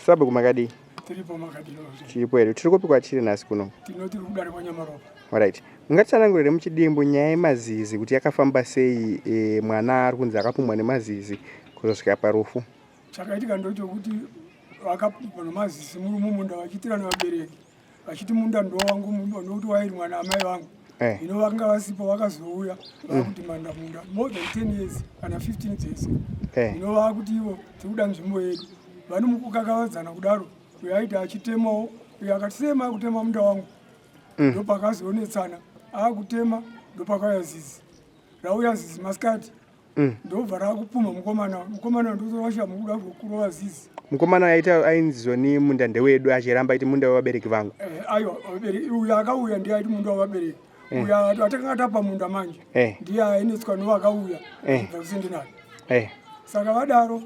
Sabhuku makadii? Tiripo makadii? Tiripo here? Tiri kupi kwachiri nhasi kuno? Tino tiri kudare kwaNyamaropa. Alright. Mungatsanangurire muchidimbu nyaya yemazizi kuti yakafamba sei e, mwana ari kunzi akapumwa nemazizi kuzosvika parufu? Chakaitika ndochokuti vakapumwa nemazizi murume munda vachiitirana vabereki. vachiti munda ndo wangu nokuti wairimwa naamai vangu eh. ino vanga vasipo vakazouya vakudimanda mm. munda more than ten years kana 15 dzese eh. ino vakuti ivo tiri kuda nzvimbo yedu vani mukukakavadzana kudaro uyo aiti achitemawo uyo akati sema akutema munda wangu mm. ndo pakazionetsana akutema ndo pakauya zizi rauya zizi masikati mm. ndobva rakupuma mukomana mukomana ndozovasha mukuda kurova zizi mukomana aita ainzizwa ni munda ndewedu achiramba aiti munda wevabereki vangu eh, aiwa vabereki uyo akauya ndiye aiti munda wevabereki eh. uyo atakanga tapa munda manje eh. ndiye ainetswa novakauya eh. vakusendinani eh. saka vadaro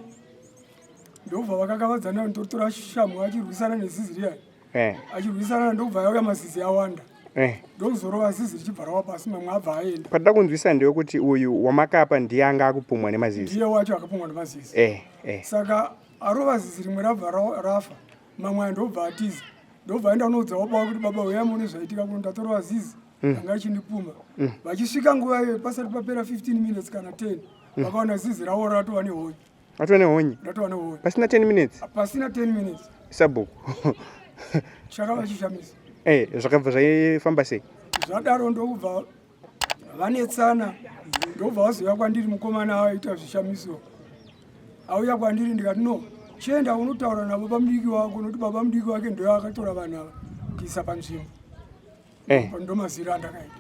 ndobva vakakavadzana ndotora shamhu achirwisana nezizi riyani eh. achirwisana ndokubva yauya mazizi awanda eh. ndokuzorova zizi richibva rawa pasi mamwe abva aenda patada kunzwisa ndewekuti uyu wamakapa ndiye anga akupumwa nemazizi ndiye wacho akapumwa nemazizi eh, eh. saka arova zizi rimwe rabva rafa mamwe aya ndokubva atiza ndokubva aenda unoudza wapawa kuti baba uya mune zvaitika kuno ndatorova zizi mm. anga achindipuma mm. vachisvika nguva iyoyo pasati papera 15 minutes kana 10 vakaona zizi rawo ratova nehoyo Watova nehonye? Ndatova nehonye. Pasina 10 minutes? Pasina 10 minutes. Sabhuku. Chakava chishamisa. Eh, zvakabva zvaifamba sei? Zvadaro ndokubva vanetsana ndobva vaziva kwandiri mukomana aita zvishamiso auya kwandiri ndikati no chienda unotaura nababa mudiki wako nokuti baba mudiki wake ndoyo akatora vanhu ava kuisa panzvimbo eh. ndomaziro andakaita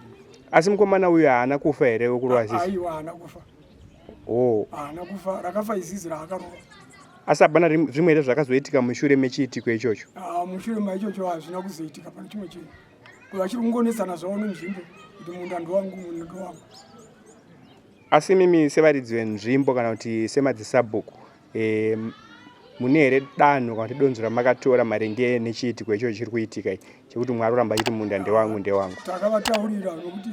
asi mukomana uyu haana kufa here wekurova zizi aiwa haana kufa oh. haana kufa rakafa izizi raakarova asi hapana zvimwe here zvakazoitika mushure mechiitiko ichocho ah, mushure maichocho hazvina kuzoitika pane chimwe chinhu vachiri kungonetsana zvavo nenzvimbo kuti munda ndowangu munda ndowangu asi mimi sevaridzi venzvimbo kana kuti semadzisabhuku e, mune here danho kana kuti donzo ramakatora maringe nechiitiko ichocho chiri kuitika chekuti mwari oramba achiti munda ndewangu ndewangu takavataurira nokuti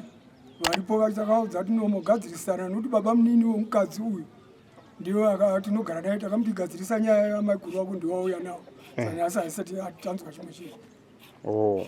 varipo vatakaudza tinomogadzirisana nokuti baba munini wemukadzi uyu ndiwo tinogara naye takamuti gadzirisa nyaya yamaiguru wako ndiwauya nawo eh. saka asi haisati tanzwa chimwe chinhu oh.